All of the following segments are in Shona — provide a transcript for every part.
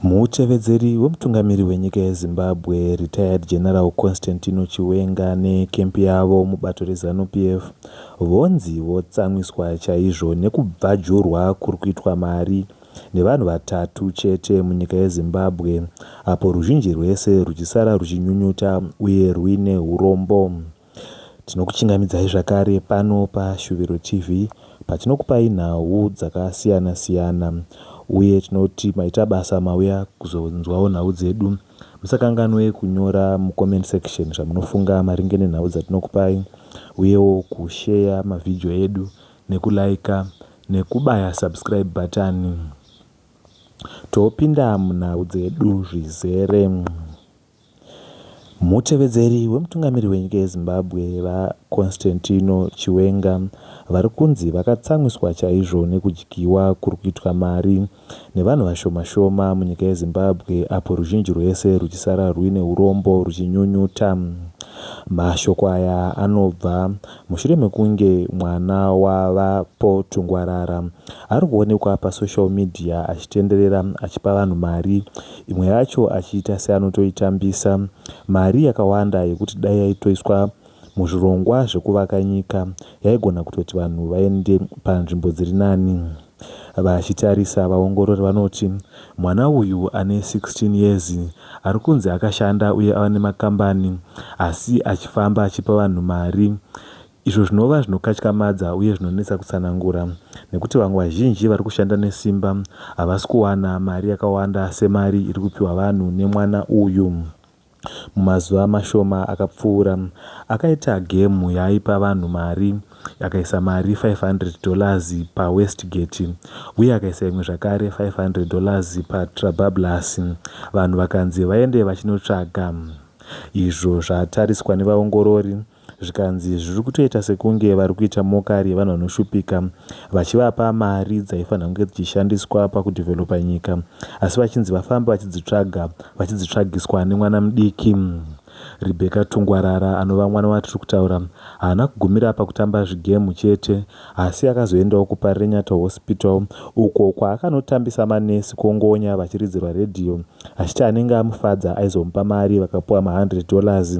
Mutevedzeri wemutungamiri wenyika yeZimbabwe, Retired General Constantino Chiwenga neecamp yavo mubato reZanu PF vonzi votsamwiswa chaizvo nekubvajurwa kuri kuitwa mari nevanhu vatatu chete munyika yeZimbabwe apo ruzhinji rwese rwuchisara rwuchinyunyuta uye rwuine hurombo. Tinokuchingamidzai zvakare pano paShuviro TV patinokupai nhau dzakasiyana siyana uye tinoti maita basa mauya kuzonzwawo nhau dzedu. Musakanganwe kunyora mucomment section zvamunofunga maringe nenhau dzatinokupai uyewo kusheya mavhidhiyo edu nekulaika nekubaya subscribe bhatani topinda munhau dzedu zvizere. Mutevedzeri wemutungamiri wenyika yeZimbabwe, VaConstantino Chiwenga, vari kunzi vakatsamwiswa chaizvo nekudyiwa kuri kuitwa mari nevanhu vashoma shoma munyika yeZimbabwe apo ruzhinji rwese rwuchisara rwuine urombo rwuchinyunyuta. Mashoko aya anobva mushure mekunge mwana waVaPo Tungwarara ari kuonekwa pasocial media achitenderera achipa vanhu mari imwe yacho achiita seanotoitambisa mari yakawanda yekuti dai yaitoiswa muzvirongwa zvekuvaka nyika yaigona kutoti vanhu vaende panzvimbo dziri nani. Vachitarisa vaongorori vanoti mwana uyu ane 16 years ari kunzi akashanda uye ava nemakambani asi achifamba achipa vanhu mari izvo zvinova zvinokatyamadza uye zvinonetsa kutsanangura nekuti vamwe vazhinji vari kushanda nesimba havasi kuwana mari yakawanda semari iri kupiwa vanhu nemwana uyu mumazuva mashoma akapfuura akaita gemu yaaipa vanhu mari akaisa mari 500 dollars pawestgate uye akaisa imwe zvakare 500 dollars patrabablas vanhu vakanzi vaende vachinotsvaga izvo zvatariswa nevaongorori zvikanzi zviri kutoita sekunge vari kuita mokari yevanhu vanoshupika vachivapa mari dzaifanira kunge dzichishandiswa pakudhivhelopa nyika asi vachinzi vafambe vachidzitsvaga vachidzitsvagiswa nemwana mudiki rebecca tungwarara anova mwana watiri kutaura haana kugumira pakutamba zvigemu chete asi akazoendawo kuparenyata hospital uko kwaakanotambisa manesi kongonya vachiridzirwa redhiyo achiti anenge amufadza aizomupa mari vakapuwa ma100 dollars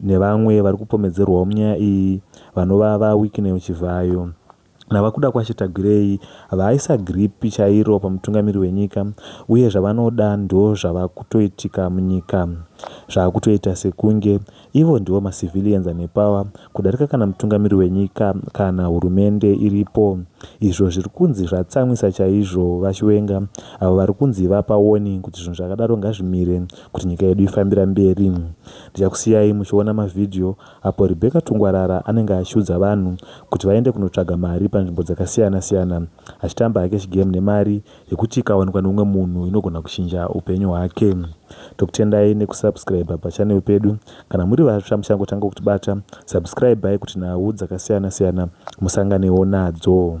nevamwe vari kupomedzerwawo munyaya iyi vanova VaWicknell Chivhayo naVaKudakwashe Tagwirei vaisa giripi chairo pamutungamiri wenyika uye zvavanoda ndozvava kutoitika munyika. Zvava kutoita sekunge ivo ndivo macivilians ane power kudarika kana mutungamiri wenyika kana hurumende iripo izvo zviri kunzi zvatsamwisa chaizvo VaChiwenga avo vari kunzi vapa warning kuti zvinhu zvakadaro ngazvimire kuti nyika yedu ifambira mberi. Ndichakusiyai muchiona mavhidhiyo apo Rebecca Tungwarara anenge achiudza vanhu kuti vaende kunotsvaga mari panzvimbo dzakasiyana siyana achitamba hake chigame nemari yekuti ikawanikwa neumwe munhu inogona kuchinja upenyu hwake. Tokutendai nekusubscriber pachannel pedu. Kana muri vatsva muchangotanga kutibata, subscribai kuti nhau dzakasiyana siyana musanganewo nadzo.